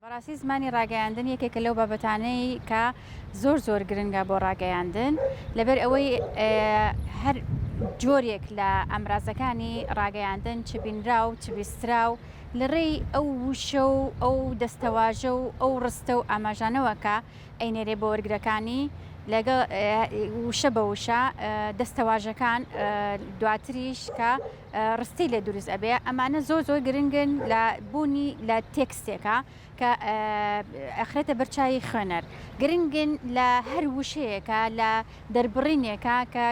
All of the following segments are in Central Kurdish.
بەڕاستی زمانی ڕاگەیاندن یەکێکە لەو بابەتانەی کە زۆر زۆر گرنگە بۆ ڕاگەیاندن لەبەر ئەوەی هەر جۆرێک لە ئەمرازەکانی ڕاگەیاندن چ بینرا و چ بیسترا و لە ڕێی ئەو وشە و ئەو دەستەواژە و ئەو ڕستە و ئاماژانەوە کە ئەینێرێ بۆ وەرگرەکانی لەگەڵ وشە بە وشە دەستەواژەکان دواتریش کە ڕستی لێ دروست ئەبێ ئەمانە زۆر زۆر گرنگن لە بوونی لە تێکستێکە کە ئەخرێتە بەرچوی خوێنەر گرنگن لە هەر وشەیەەکە لە دەربڕینێکە کە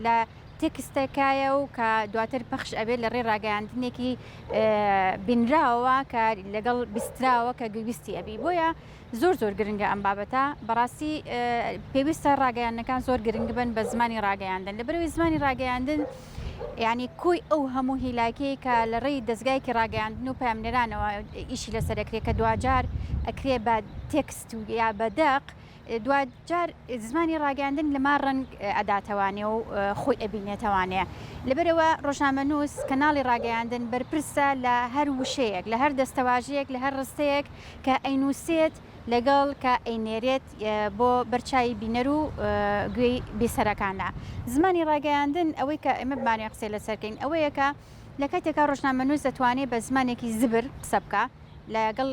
لە تێکستەکایە و کە دواتر پەخش ئەبێت لە ڕێ ڕاگەیاندنێکی بینراوە کە لەگەڵ بیستراوە کە گویستی ئەبی بۆیە زۆر زۆر گرنگە ئەم بابەتە بەڕاستی پێویستە ڕاگەیانەکان زۆر گرنگ بن بە زمانی ڕاگەیاندن لە بەرەوەی زمانی ڕاگەیاندن ینی کۆی ئەو هەموو هیلاکەیە کە لە ڕێی دەستگایکی ڕاگەیاندن و پامنێرانەوە ئیشی لەسەر دەکرێت کە دواجار ئەکرێ بە تێکست و یا بەدەق دوجار زمانی ڕاگەاندن لەما ڕنگ ئەداتەوانێ و خۆی ئەبینێتەوانێ لەبەرەوە ڕۆژنامە نووس کەناڵی ڕاگەیاندن بەرپرسە لە هەر وشەیەک لە هەر دەستەواژەیەک لە هەر ڕستەیەک کە ئەینووسێت لەگەڵ کە ئەینێرێت بۆ بەرچاوی بینەر و گوێی بیسەرەکانە. زمانی ڕاگەیاندن، ئەوەی کە ئێمە بمانەوێت قسەی لەسەر کەین ئەوەیە کە لە کاتێکا ڕۆژنامەنووس دەتوانێت بە زمانێکی زبر قسە بکا لەگەڵ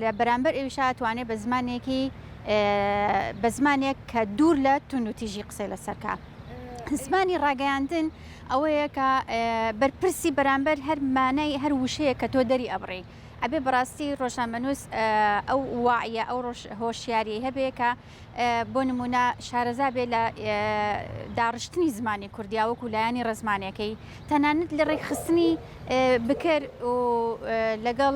لە بەرامبەر ئەویشا ئەتوانێت بە زمانێکی بە زمانێک کە دوور لە توندوتیژی قسەی لەسەر کا. زمانی ڕاگەیاندن ئەوەیە کە بەرپرسی بەرامبەر هەر مانای هەر وشەیە کە تۆ دەری ئەبڕی ئەبێ بەڕاستی ڕۆژنامەنووس ئەو واعیە ئەو هۆشیاریی هەبێ کە بۆ نمونە شارەزا بێ لە داڕشتنی زمانی کوردیاوەک و لایانی ڕزمانەکەی تەنانەت لە ڕێکخستنی بکر و لەگەڵ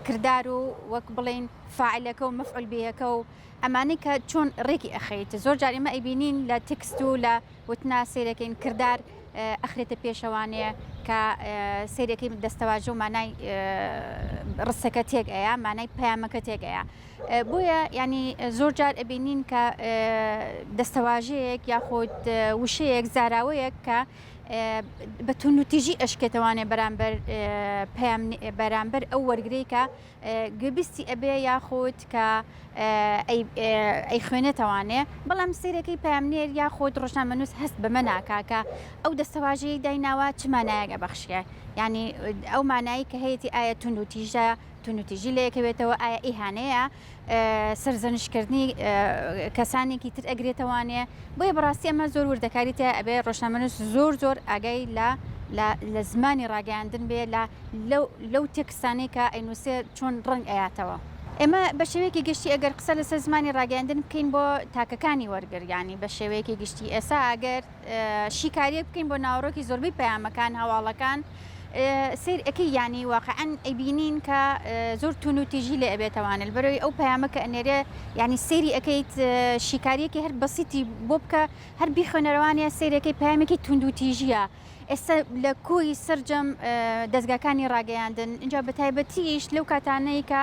کردار و وەک بڵین فعلەکە و مفعول بەکە و ئەمانەی کە چۆن ڕێکی ئەخەیت زۆر جاریمە ئەیبینین لە تکست و لە وتنە سەیرەکەین کردار ئەخرێتە پێشەوانێ کە سەیرەکەی دەستەواژە و مانای ڕستەکە تێک ئەیە مانای پەیامەکە تێک ئەیە بۆیە ینی زۆر جار ئەبینین کە دەستەواژەیەک یاخود وشەیەک زاراوەیەک کە بە تونوتیژی ئەشکێتەوانێ بەرامبەر پەیام بەرامبەر ئەو وەرگریکە گوێبیستی ئەبێ یاخود کە ئەیخوێنێتەوانێ بەڵام سیرەکەی پامنێر یاخود ڕۆژنامەنووس هەست بەمە ناکا کە ئەو دەستەواژەی دایناوە چ مانایەگە بەخشیە ینی ئەو مانایی کە هەیەی ئایا تون و تیژە تون و تیژی لەیەکەوێتەوە ئایا ئیهانەیە سرزەنشکردنی کەسانێکی تر ئەگرێتەوانێ بۆیە بەڕاستی ئەمە زۆر وردەکاری تە ئەبێ ڕۆژنامەنووس زۆر زۆر ئاگای لە لە زمانی ڕاگەیاندن بێ لە لەو تێکس قسانەی کە ئەینوسێ چۆن ڕەنگ ئەیاتەوە. ئێمە بە شێوەیەکی گشتی ئەگەر قسە لەسەر زمانی ڕاگەیاندن بکەین بۆ تاکەکانی وەرگر یانی بە شێوەیەکی گشتی ئێسا ئەگەر شیکاریەک بکەین بۆ ناوەڕۆکی زۆربەی پەیامەکان هەواڵەکان سەیر ئەکەی یانی واقعەن ئەیبینین کە زۆر توون و تیژی لێ ئەبێتەوانە لەبەرەوەی ئەو پەیامە کە ئەنێرێ یانی سەیری ئەکەیت شیکاریەکی هەر بەسیتی بۆ بکە هەر بیخوێنەرەوانێ سەیرەکەی پەیامێکی تووندوتیژیە. ئێستا لە کۆی سەرجەم دەزگاکانی ڕاگەیاندن اینجا بە تایبەتیش لەو کاتانەی کە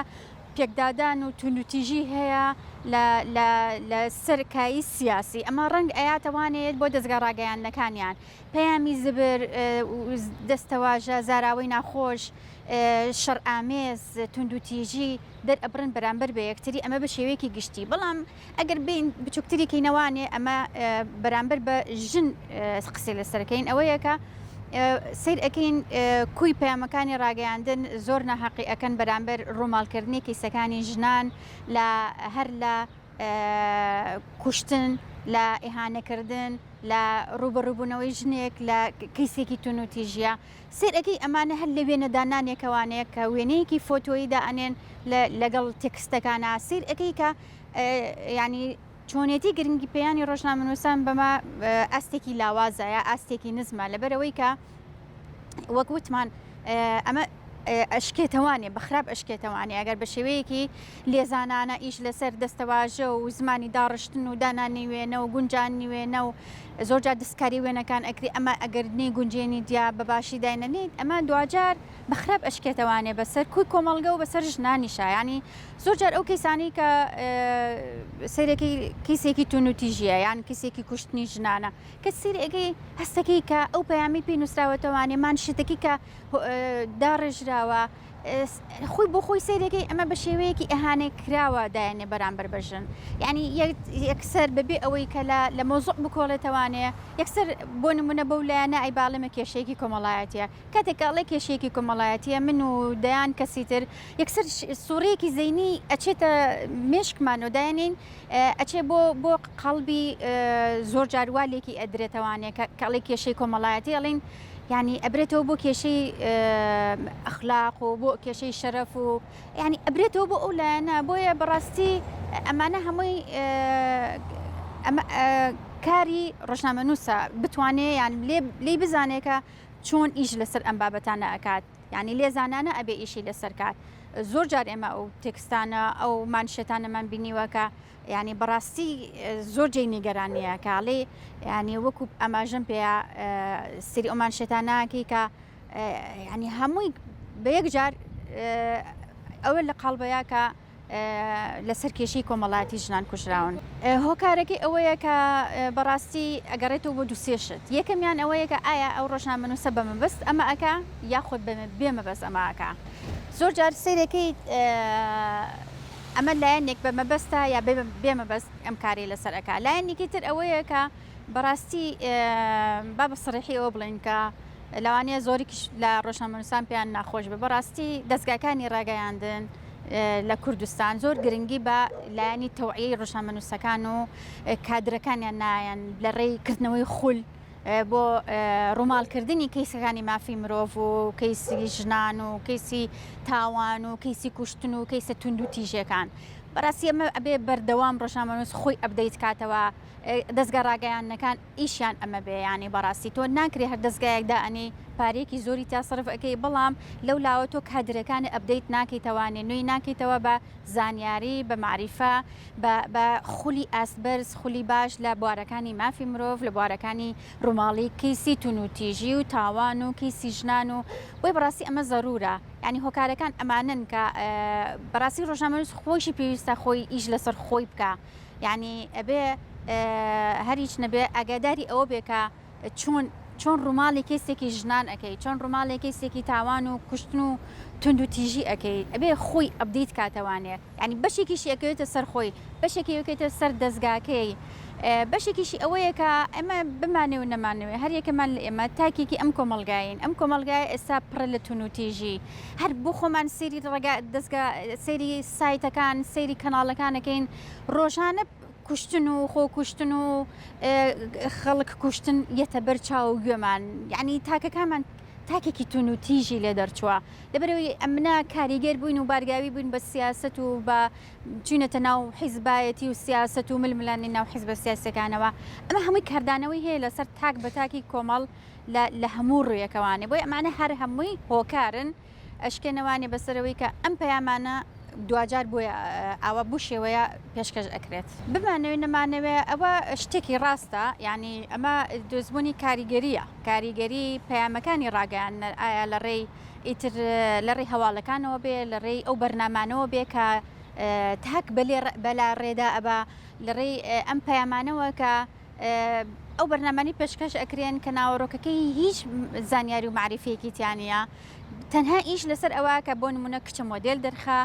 پێکدادان و تونوتیژی هەیە لە سەرکایی سیاسی ئەمە ڕەنگ ئەیاتەوانێت بۆ دەستگا ڕاگەیاندنەکانیان پەیامی زبر دەستەواژە زاراوەی ناخۆش شەرئامێز تونندوتیژی دەرئەبرن بەرامبەر بە یەکتری ئەمە بە شێوەیەکی گشتی بەڵام ئەگەر بێین بچووکتری کەینەوانێ ئەمە بەرامبەر بە ژن قسەی لەسەرکەین ئەوەیە کە سیر ئەەکەین کوی پەیامەکانی ڕاگەیاندن زۆر ناحقی ئەەکەن بەرامبەر ڕووماڵکردنی کیسەکانی ژنان لە هەر لە کوشتن لە ئیهانەکردن لە ڕوبەڕوبوونەوەی ژنێک لە کەیسێکی تونوتیژە سەیر ئەکەی ئەمانە هەر لە وێنە دانانێکەوانەیە کە وێنەیەکی فۆتۆیی دا ئەنێن لە لەگەڵ تێکستەکانا سەیر ئەکەی کە یانی چۆنێتی گرنگی پێیانی ڕۆژنامەنووسان بەمە ئاستێکی لاوازە یا ئاستێکی نزمە لەبەرەوەی کە وەک وتمان ئەمە ئەشکێتەوانێ بەخراپ ئەشکێتەوانێ ئەگەر بە شێوەیەکی لێزانانە ئیش لەسەر دەستەواژە و زمانی داڕشتن و دانانی وێنە و گونجان نیوێنە و زۆر جار دەستکاری وێنەکان ئەکری ئەمە ئەگەر نەی گونجێنی جیا بەباشی داینەنیت ئەمە دواجار بەخراپ ئەشکێتە وانێ بەسەر کوی کۆمەڵگە و بەسەر ژنانی شایانی زۆر جار ئەو کەیسانی کە سەیرەکەی کیسێکی تونوتیژیە یان کیسێکی کوشتنی ژنانە کە سیرەکەی هەستەکەی کە ئەو پەیامی پێی نووسراوەتەوانێمان شتەکەی کە داڕێژراوە خۆی بۆ خۆی سەیرەکەی ئەمە بە شێوەیەکی ئەهانەی کراوە دایەنێ بەرامبەر بە ژن یعنی یەکسەر بەبێ ئەوەی کە لە مۆزق بکۆڵێتەوانێ یەکسەر بۆ نمونە بەو لایەنە ئەی باڵێمە کێشەیەکی کۆمەڵایەتە کاتێک ئەڵێ کێشەیەکی کۆمەڵایەتە من و دەیان کەسی تر یەکسەر سوڕەیەکی زەینی ئەچێتە مێشکمان و دایانین ئەچێ بۆ بۆ قەڵبی زۆر جاروالێکی ئەدرێتەوانێ کەڵی کێشەی کۆمەڵایەتی ئەڵین یانی ئەبرێتەوە بۆ کێشەی ئەخلاق و بۆ کێشەی شەرەف و ینی ئەبرێتەوە بۆ ئەو لایەنە بۆیە بەڕاستی ئەمانە هەمووی کاری ڕژنامە نووسە بتوانێ یان لی بزانێکە چۆن ئیش لەسەر ئەم بابەتانە ئەکات ینی لێزانانە ئەبێ ئیشی لەسەر کات زۆر جار ئێمە ئەو تێکستانە ئەو مانشێتانەمان بینیوەکە یانی بەڕاستی زۆر جێی نیگەرانیە کە ئەڵێ یانی وەکو ئەماژەم پێیا سری ئەمان شێتاناکی کە ینی هەمووی بە یەک جار ئەوە لە قەڵبەیە کە لەسەر کێشی کۆمەڵایەتی ژنان کوژراون هۆکارەکەی ئەوەیە کە بەڕاستی ئەگەڕێتەوە بۆ دوسێشت یەکەمیان ئەوەیە کە ئایا ئەو ڕۆژنامەنووسە بە مەبەست ئەمە ئەک یاخود بێمە بەس ئەماکە زۆر جار سیرەکەی ئەمە لایەنێک بە مەبەستە یا بێ مەبەست ئەم کارەی لەسەر ئەکا لایەنێکی تر ئەوەیە کە بەڕاستی با بە سڕیحی ئەوە بڵێن کە لەوانەیە زۆریکیش لە ڕۆژنامەنووسان پێیان ناخۆش بە بەڕاستی دەستگاکانی ڕاگەیاندن لە کوردستان زۆر گرنگی بە لایەنی تەوعی ڕژامەنووسەکان و کادرەکانیان نایەن لە ڕێی کردنەوەی خول بۆ ڕووماڵکردنی کەیسەکانی مافی مرۆڤ و کەیسی ژنان و کەیسی تاوان و کەیسی کوشتن و کەیسە تونند و تیژەکان بەڕاستی ئەمە ئەبێ بەردەوام ڕۆژنامەنووس خۆی ئەبدەیت کاتەوە دەستگا ڕاگەیاندنەکان ئیشیان ئەمە بێ ینی بەڕاستی تۆ ناکرێ هەر دەستگایەکدا ئەنی پارێکی زۆری تا سرف ئەەکەی بەڵام لەو لاوە تۆ کادرەکانی ئەبدەیت ناکەیتەوانێ نوێی ناکەیتەوە بە زانیاری بە معریفە بە بە خولی ئاست بەرز، خولی باش لە بوارەکانی مافی مرۆڤ، لە بوارەکانی ڕووماڵی کەیسی توونوتیژی و تاوان و کەیسی ژنان و بۆیە بەڕاستی ئەمە زەروورە یانی هۆکارەکان ئەمانەن کە بەڕاستی ڕۆژنامەنووس خۆیشی پێویستە خۆی ئیش لەسەر خۆی بکا یانی ئەبێ هەر هیچ نەبێ ئاگاداری ئەوە بێ کە چۆن چۆن ڕوماڵی کەیسێکی ژنان ئەکەی چۆن ڕوماڵی کەیسێکی تاوان و کوشتن و توند و تیژی ئەکەی ئەبێ خۆی ئەبدەیت کاتەوانێ ینی بەشێکیشی ئەکەوێتە سەر خۆی بەشێکی یەکێتە سەر دەستگاکەی بەشێکیشی ئەوەیە کە ئەمە بمانێ و نەمانوێ هەر یەکەمان لە ئێمە تاکێکی ئەم کۆمەلگاین ئەم کۆمەلگای ئێستا پڕە لە تون و تیژی هەر بۆ خۆمان سری ڕگا دەستگا سری سایتەکان سری کەناڵەکانەکەین ڕۆژانە کوشتن و خۆکوشتن و خەڵک کوشتن یەتە بەر چاو و گوێمان یعنی تاکەکانمان تاکێکی تون و تیژی لێ دەرچووە لەبەرەوەی ئەمنا کاریگەر بووین و بارگاوی بووین بە سیاست و بە چوینەتە ناو حیزبایەتی و سیاست و ململانی ناو حیزبە سیاسەکانەوە ئەمە هەمووی کاردانەوەی هەیە لەسەر تاک بە تاکی کۆمەڵ لە هەموو ڕویەکەوانێ بۆی ئەمانە هەر هەمووی هۆکارن ئەشکێنەوانێ بەسەرەوەی کە ئەم پەیامانە دواجار بۆیە ئاوا بو شێوەیە پێشکەش ئەکرێت بمانەوێ نەمانەوێ ئەوە شتێکی ڕاستە یعنی ئەمە دۆزبوونی کاریگەریە کاریگەری پەیامەکانی ڕاگەیاندنەر ئایا لە ڕێی ئیتر لە ڕێی هەواڵەکانەوە بێ لە ڕێی ئەو بەرنامانەوە بێ کە تاک بەلێ بەلا ڕێدا ئەبا لە ڕێی ئەم پەیامانەوە کە ئەو بەرنامانەی پێشکەش ئەکرێن کە ناوەڕۆکەکەی هیچ زانیاری و معریفەیەکی تیانە تەنها ئیش لەسەر ئەوە کە بۆ نمونە کچە مۆدل دەرخە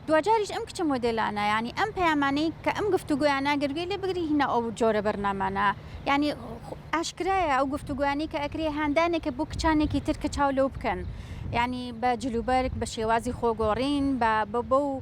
دوجاریش ئەم کچە مۆدلانە ینی ئەم پەیامانەی کە ئەم گفتوگویان ناگەروێ لێ بگری هینا ئەو جۆرە بەرنامانە ینی ئاشکرایە ئەو گفتوگویانی کە ئەکرێ هاندانێکە بۆ کچانێکی تر کە چاو لەو بکەن ینی بە جلوبەرگ بە شێوازی خۆگۆڕین بە بە و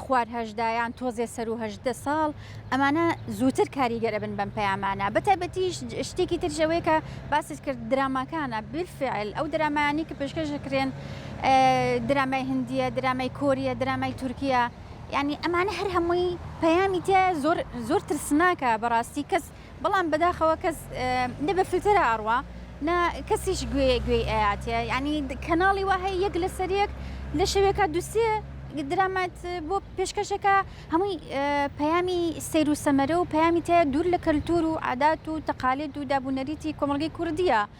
خوار هەژدا یان تۆزێ سەرو هەژدە ساڵ ئەمانە زووتر کاریگەرە بن بەم پەیامانە بەتابەتیش شتێکی ترژەوەی کە باست کرد دراماکانە بیرفعل ئەو درامایانی کە پێشکەش دەکرێن درامای هندیە درامای کۆریە درامای تورکیا ینی ئەمانە هەر هەمووی پەیامی تێ زۆر زۆر ترسناکە بەڕاستی کەس بەڵام بەداخەوە کەس نە بە فلتەرە ئەڕوا نە کەسیش گوێ گوێی ئەیاتێ ینی کەناڵی وا هەیە یەک لەسەر یەک لە شەوێکە دوسێ درامات بۆ پێشکەشەکە هەمووی پەیامی سیر و سەمەرە و پەیامی تایە دوور لە کەلتور و عادات و تەقالێت و دابوونەریتی کۆمەلگەی کوردیە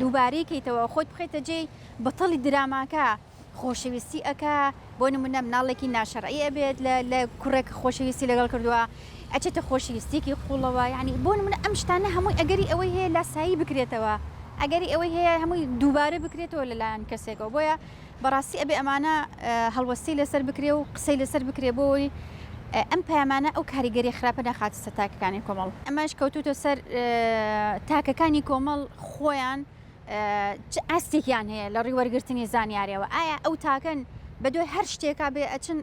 دووبارەی کەیتەوە خۆت بخەیتە جێی بەتەڵی دراماکە خۆشەویستی ئەکا بۆ نمونە مناڵێکی ناشەرعی ئەبێت لە کوڕێک خۆشەویستی لەگەڵ کردووە ئەچێتە خۆشەویستێکی قوڵەوە یعنی بۆ نمونە ئەم شتانە هەمووی ئەگەری ئەوەی هەیە لاسایی بکرێتەوە ئەگەری ئەوەی هەیە هەمووی دووبارە بکرێتەوە لەلایەن کەسێکەوە بۆیە بەڕاستی ئەبێ ئەمانە هەڵوەستەی لەسەر بکرێ و قسەی لەسەر بکرێ بۆ ئەوەی ئەم پەیامانە ئەو کاریگەری خراپە نەخاتە سەر تاکەکانی کۆمەڵ. ئەمەش کەوتووتە سەر تاکەکانی کۆمەڵ خۆیان چ ئاستێکیان هەیە لە ڕووی وەرگرتنی زانیارییەوە، ئایا ئەو تاکەن بە دوای هەر شتێکا بێ ئەچن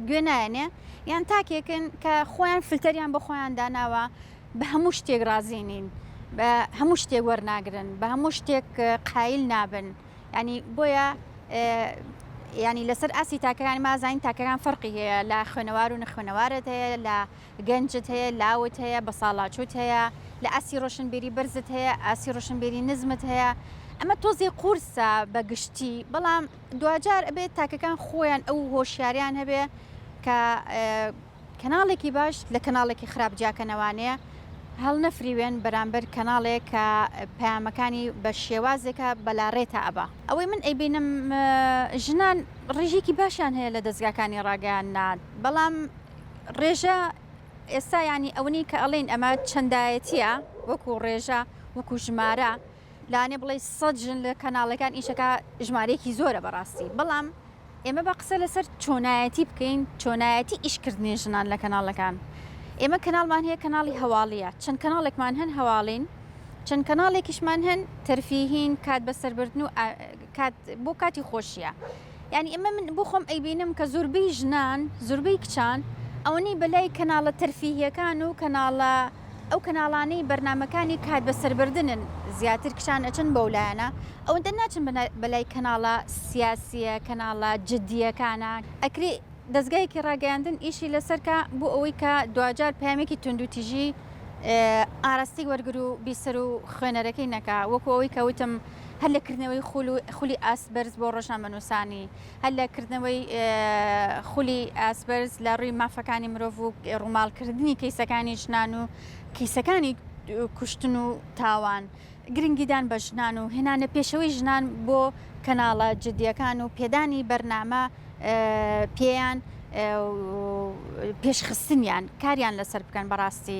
گوێ نایەنێ یان تاکێکن کە خۆیان فلتەریان بۆ خۆیان داناوە بە هەموو شتێک ڕازی نین، بە هەموو شتێک وەرناگرن، بە هەموو شتێک قایل نابن. یانی بۆیە ینی لەسەر ئاسی تاکەکان مازانین تاکەکان فەرقی هەیە لە خوێنەوار و نەخوێنەوارت هەیە لە گەنجت هەیە لاوت هەیە بە ساڵاچوت هەیە لە ئاسی ڕۆشنبیری بەرزت هەیە ئاسی ڕۆشنبیری نزمت هەیە ئەمە تۆزی قورسە بە گشتی بەڵام دوجار ئەبێت تاکەکان خۆیان ئەو هۆشیاریان هەبێ کە کەناڵێکی باش لە کەناڵێکی خراپ جیاکەنەوانەیە هەڵنەفریوێن بەرامبەر کەناڵێک کە پەیامەکانی بە شێوازێکە بەلاڕێتا ئەبا ئەوەی من ئەیبینم ژنان ڕێژێکی باشیان هەیە لە دەستگاکانی ڕاگەیان نان بەڵام ڕێژە ئێستا ینی ئەوەی کە ئەڵین ئەمە چەندایەتە وەکو ڕێژە وەکو ژمارە لانی بڵێی سەد ژن لە کەناڵەکان ئیشەکا ژمارەیەکی زۆرە بەڕاستی بەڵام ئێمە بە قسە لەسەر چۆنایەتی بکەین چۆنایەتی ئیشکردنی ژنان لە کەناڵەکان ئێمە کەناڵمان هەیە کەناڵی هەواڵیە چەند کەناڵێکمان هەن هەواڵین چەند کەناڵێکیشمان هەن تەرفیهین کات بەسەربردن و کات بۆ کاتی خۆشیە یانی ئەمە من بۆ خۆم ئەیبینم کە زۆربەی ژنان زۆربەی کچان ئەوەنەی بەلای کەناڵە تەرفیهیەکان و کەناڵە ئەو کەناڵانەی بەرنامەکانی کات بەسەربردنن زیاتر کچان ئەچن بەو لایەنە ئەوەندە ناچن بەلای کەناڵە سیاسیە کەناڵە جدیەکانە ئەکری دەزگایەکی ڕاگەیاندن ئیشی لەسەرکە بۆ ئەوەی کە دواجار پامێکی توندوتیژی ئاراستەی وەرگرو بیسەرو خوێنەرەکەی نەکا وەکو ئەوەی کەوتم هەر لە کردنەوەی خولی ئاست بەرز بۆ ڕۆژنامەنووسانی هەر لە کردنەوەی خولی ئاست بەرز لە ڕووی مافەکانی مرۆڤ و ڕووماڵکردنی کەیسەکانی ژنان و کیسەکانی کوشتن و تاوان گرنگیدان بە ژنان و هێنانە پێشەوەی ژنان بۆ کەناڵە جدیەکان و پێدانی بەرنامە پێیان پێشخستنیان کاریان لەسەر بکەن بەڕاستی